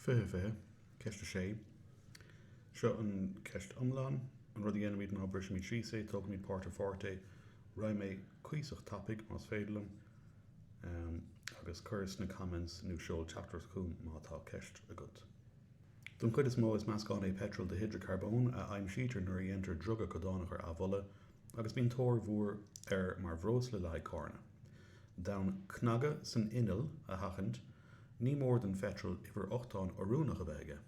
20, 20. Ceist 6, Seo an cheist iomlán, An rud a dhéanaimid ná brisimid síos é, tógaimid páirt ar pháirt é, raghaidh mé cuíosach tapaidh más féidir liom, em, agus cuir sna comments nó seol teachtaireacht chugam má tá ceist agat. Don chuid is mó is meascán é peitreal de hidreacarbón a aimsítear nuair a dhéantar driogadh codánach ar amhola agus bíonn tóir mhór air mar bhreosla le haghaidh carranna. D'fhonn cnagadh san inneall a sheachaint, Ní mór don pheitreal uimhir ochtáin oiriúnach a bheith aige.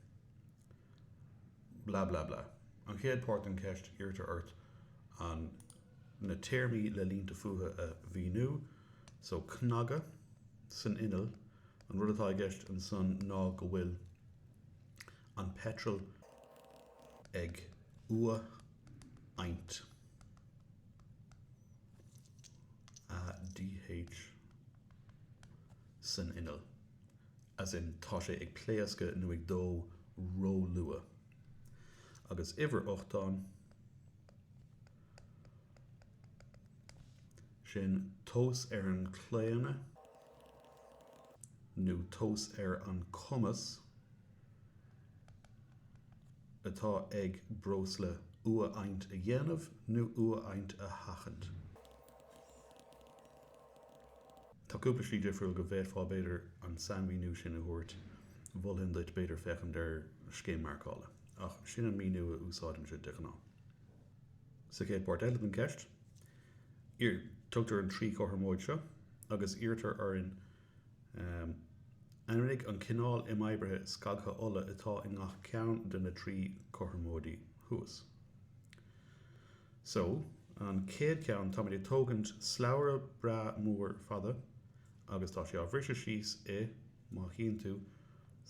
Blah blah blah. An chéad páirt den cheist, iarrtar ort an, na téarmaí le línte fútha a mhíniú. So, cnagadh san inneall, an rud atá i gceist ansan ná go bhfuil an peitreal ag uathadhaint. ADH. san inneall, as in tá sé ag pléascadh nó ag dó róluath, agus uimhir ochtáin, sin tomhas ar an chlaonadh nó tomhas ar an cumas atá ag breosla uathadhaint a dhéanamh nó uathadhaint a sheachaint. Tá cúpla slí difriúil go bhféadfá, b'fhéidir, an sainmhíniú sin a thabhairt, mholfainn duit, b'fhéidir, féachaint ar scéim marcála, ach sin an míniú a úsáidimse de ghnáth. Sa chéad pháirt eile den cheist, iarr, tugtar an trí chothromóid seo agus iarrtar orainn Ainmnigh an cineál imoibrithe scagtha ola atá i ngach ceann de na trí chothromóidí thuas. So, an chéad cheann, táimid ag tógaint slabhra breá mór fada agus tá sé á bhriseadh síos i, má chíonn tú,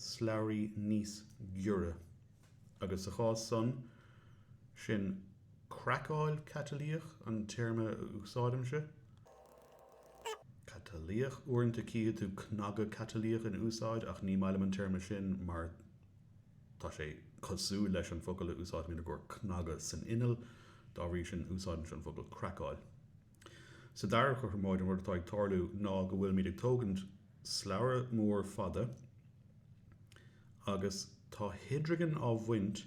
slabhraí níos giorra. Agus sa chás san, sin craiceáil chatalaíoch an téarma a úsáidimse, catalaíoch, uaireanta tchífidh tú cnagadh catalaíoch in úsáid ach ní maith liom an téarma sin mar, Tá sé cosúil leis an bhfocal a úsáidimid i gcomhair cnagadh san inneall, dá bhrí sin úsáidimse an focal craiceáil. Sa dara cothromóid, an rud atá ag tarlú ná go bhfuilimid ag tógaint slabhra mór fada agus tá hidrigin á bhaint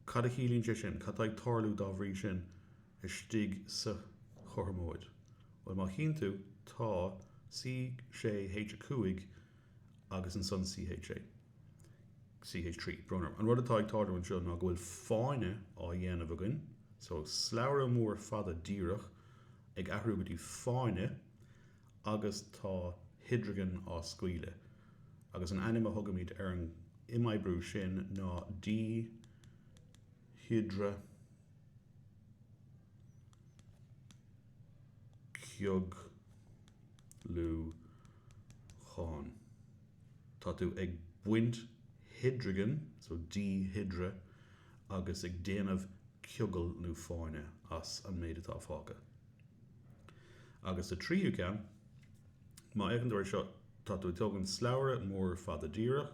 Cad a chiallaíonn sé sin? Cad atá ag tarlú, dá bhrí sin, istigh sa chothromóid? Bhuel, má chíonn tú, tá, C, 6, H, 5, agus ansan CH 6. CH 3. An rud atá ag tarlú anseo ná go bhfuil fáinne á dhéanamh againn so, slabhra mór fada díreach ag athrú go dtí fáinne agus tá hidrigin á scaoileadh agus an ainm a thugaimid ar an imoibriú sin ná díhidrea cioglúcháin. Tá tú ag baint hidrigin, so díhidrea, agus ag déanamh ciogail nó fáinne as an méid atá fágtha. Agus sa tríú ceann, má fhéachann tú ar seo, tá tú ag tógaint slabhra mór fada díreach,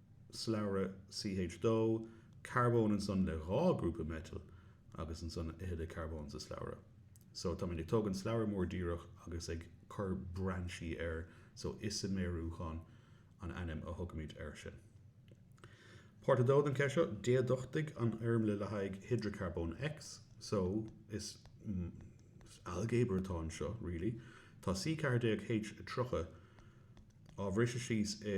slabhra CH 2 carbón ansan le dhá grúpa meitil agus ansan a thuilleadh carbón sa slabhra so táimid ag tógaint slabhra mór díreach agus ag cur brainsí air so isiméiriúchán an ainm a thugaimid air sin. Páirt 2 den cheist seo, déaduchtaigh an fhoirmle le haghaidh hidreacarbón X so is ailgéabar atá anseo really tá C 14 H 30 á bhriseadh síos i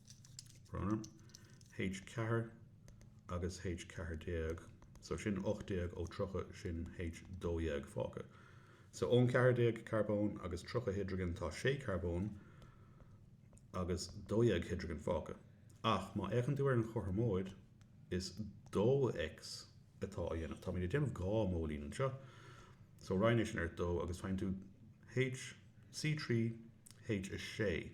H. Ceathair agus H. Ceathair déag, so sin ocht déag ó tríocha, sin H. dó dhéag fágtha. So ón cheathair déag carbón agus tríocha hidrigin tá sé carbón agus dó dhéag hidrigin fágtha. Ach má fhéachann tú ar an chothromóid, is dó X atá á dhéanamh. Táimid ag déanamh dhá mhóilín anseo. So roinn é sin ar dó agus faigheann tú H. C. trí H. 6.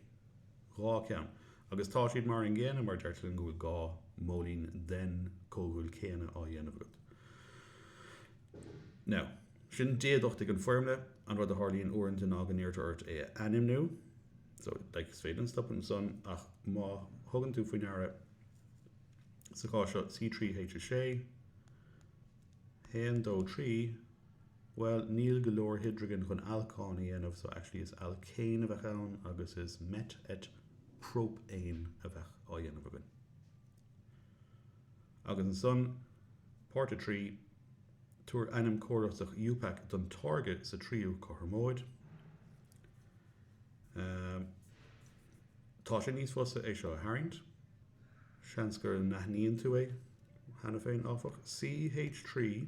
Dhá cheann. Agus tá siad mar an gcéanna mar deirtear linn go bhfuil dhá mhóilín den chomhdhúil chéanna á dhéanamh agat. Now, sin déaduchtaigh an bhfoirmle. An rud a tharlaíonn uaireanta ná go n-iarrtar ort é a ainmniú. So, like, is féidir linn stopadh ansan ach má thugann tú faoi ndeara sa chás seo C3 H6 1 2 3 Bhuel, níl go leor hidrigin chun alcán a dhéanamh, so actually is alcéin a bheadh ann agus is met et própén a bheadh á dhéanamh againn. Agus ansan, Páirt 3, Tabhair ainm córasach Iupac don táirge sa tríú cothromóid. Ahm, tá sé níos fusa é seo a tharraingt. Seans go n-aithníonn tú é cheana féin, áfach. CH3.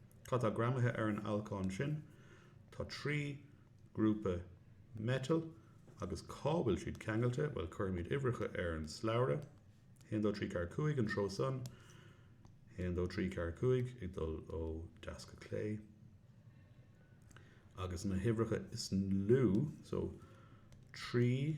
Cad tá greamaithe ar an alcán sin? Tá trí ghrúpa meitil agus cá bhfuil siad ceangailte. Bhuel, cuirfimid uimhreacha ar an slabhra. Haon, dó, trí, ceathair, cúig an treo san. Haon, dó, trí, ceathair, cúig ag dul ó deas go clé. Agus na huimhreacha is lú, so trí,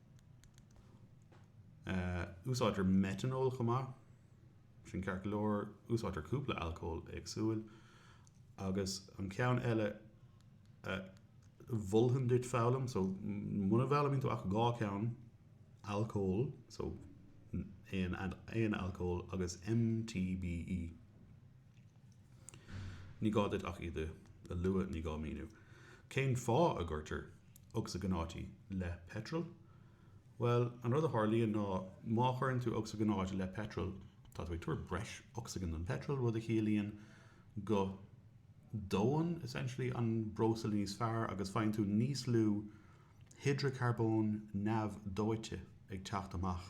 Úsáidtear meiteanól chomh maith, sin ceart go leor, úsáidtear cúpla alcól éagsúil, agus an ceann eile a mholfainn duit foghlaim, so, mura bhfoghlaimíonn tú ach dhá cheann, alcól, so, aon alcól, agus MTBE. Ní gá duit ach iad a lua, ní gá míniú cén fáth a gcuirtear ocsaigionáití le peitreal? Bhuel, an rud a tharlaíonn ná, má chuireann tú ocsaigionáit le peitreal, tá tú ag tabhairt breis ocsaigin don pheitreal, rud a chiallaíonn go ndónn, essentially, an breosla níos fearr agus faigheann tú níos lú hidreacarbón neamhdhóite ag teacht amach.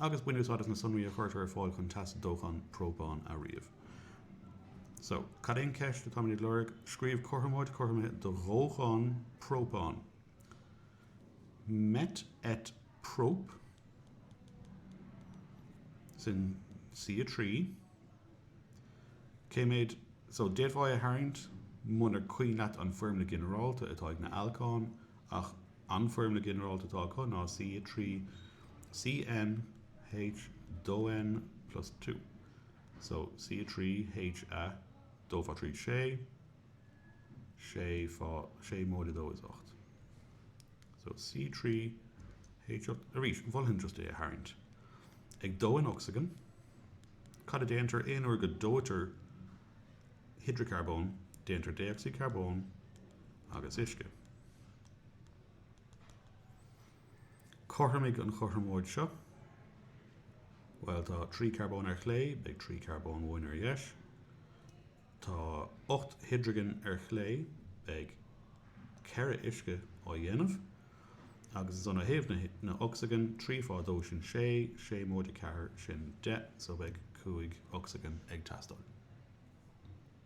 agus bain úsáid as na sonraí a chuirtear ar fáil chun teas dócháin própáin a ríomh. Só, cad í an cheist atáimid ag lorg? Scríobh cothromóid chothromaithe do dhóchán própáin. Met et prop. Sin C3. Cé méid, só, d'fhéadfá é a tharraingt munar cuimhin leat an foirmle ghinearálta atá ag na alcáin, ach An foirmle ghinearálta atá acu ná C 3 C N H 2 N móide dó so C 3 H a dó fá thrí sé, sé móide dó is ocht. So C 3 H 8 arís mholfainn just é a tharraingt. Ag dó in ocsaigin, cad a déantar aon uair go dóitear hidreacarbón, déantar dé-ocsaíd carbóin agus uisce. Cothromaigh an chothromóid seo. Bhuel, tá trí charbón ar chlé, beidh trí charbón uainn ar dheis. Tá ocht hidrigin ar chlé, beidh ceithre uisce á dhéanamh. Agus ó thaobh na ocsaigin, trí fá dó sin sé, sé móide ceathair sin deich, so beidh cúig ocsaigin ag teastáil.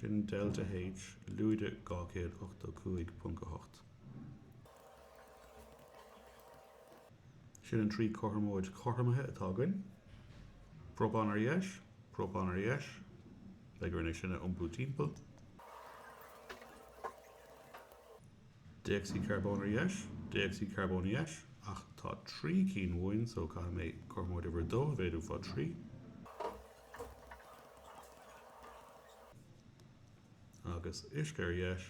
Sin Delta H, lúide 285.8. Sin an trí cothromóid chothromaithe atá againn. Própán ar dheis, própán ar dheis, beidh orainn é sin a iompú timpeall. Déocsaíd charbóin ar dheis, déocsaíd charbóin ar dheis, ach tá trí cinn uainn, so caithfidh mé cothromóid uimhir a dó a mhéadú fá thrí. Agus uisce ar dheis,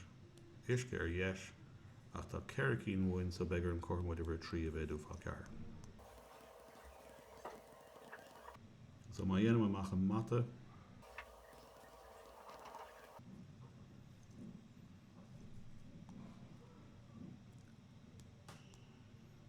uisce ar dheis, ach tá ceithre cinn uainn so beidh orainn cothromóid uimhir a trí a mhéadú fá ceathair. So má dhéanaim amach an mata,